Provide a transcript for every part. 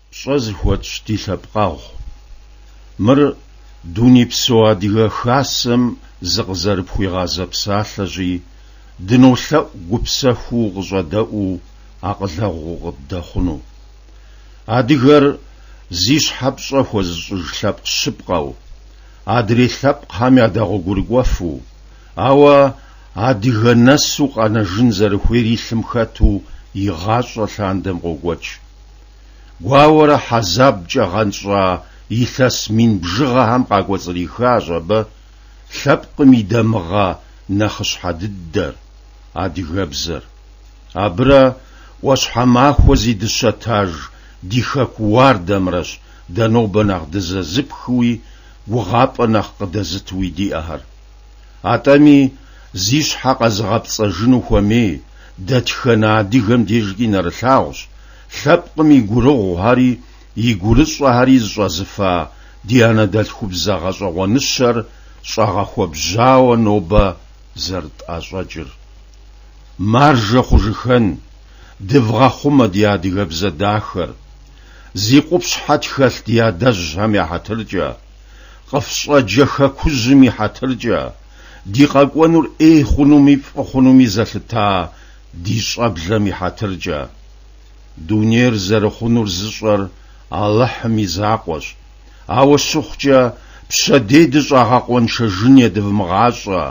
Пщӏэ зыхуэтщӏ ди лъэпкъэгъу. Мыр дунейпсо Адыгэ Хасэм зыкъызэрыпхуигъазэ псалъэщи, дынолъэӏу гупсэхуу укъыщӏэдэӏуу акъылэгъу укъыддэхъуну. Адыгэр зи щхьэ пщӏэ хуэзыщӏыж лъэпкъ щыпкъэу, адрей лъэпкъхэм ядэгъуэгурыкӏуэфу, Ауэ адыгэ нэсу къэнэжын зэрыхуейр и лъым хэту игъащӏэ лъандэм къокӏуэкӏ. Гуауэрэ хьэзабкӏэ гъэнщӏа илъэс мин бжыгъэхэм къакӏуэцӏрихащ абы лъэпкъым и дамыгъэ нэхъыщхьэ дыдэр, адыгэбзэр. Абырэ ӏуащхьэмахуэ зи дыщэтаж ди Хэку уардэмрэщ дэ нобэ нэхъ дызэзыпхыуи гугъапӏэ нэхъ къыдэзытуи диӏэхэр. Атӏэми, зи щхьэ къэзыгъэпцӏэжыну хуэмей дэтхэнэ адыгэм дежкӏи нэрылъагъущ, лъэпкъым и гурыгъухэри и гурыщӏэхэри зыщӏэзыфа ди анэдэлъхубзэ гъэщӏэгъуэныщэр щӏэгъэхуэбжьауэ нобэ зэрытӏэщӏэкӏыр. Маржэ хъужыхэн, дывгъэхъумэ ди адыгэбзэ дахэр, зи къупщхьэ тхэлъ ди адэжьхэм я хьэтыркӏэ! Къыфщӏэджэ Хэкужьым и хьэтыркӏэ, ди къэкӏуэнур ӏей хъунуми фӏы хъунуми зэлъыта ди щӏэблэм и хьэтыркӏэ. Дунейр зэрыхъунур зыщӏэр Алыхьым и закъуэщ, ауэ щыхъукӏэ, пщэдей дыщӏагъэкъуэншэжын едывмыгъащӏэ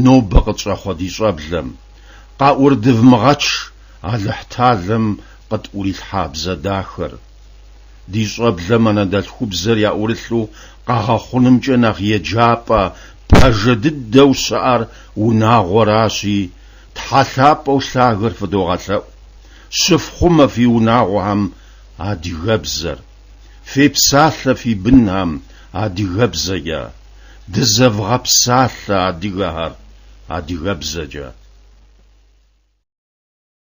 нобэ къытщӏэхъуэ ди щӏэблэм. Къаӏурыдывмыгъэч Алыхьталэм къытӏурилъхьа бзэ дахэр. Ди щӏэблэм анэдэлъхубзэр яӏурылъу къэгъэхъунымкӏэ нэхъ еджапӏэ пажэ дыдэу щыӏэр унагъуэращи, Тхьэ лъапӏэу лъагэр фыдогъэлъэӏу. Щыфхъумэ фи унагъуэхэм адыгэбзэр. Фепсалъэ фи бынхэм адыгэбзэкӏэ. Дызэвгъэпсалъэ адыгэхэр адыгэбзэкӏэ.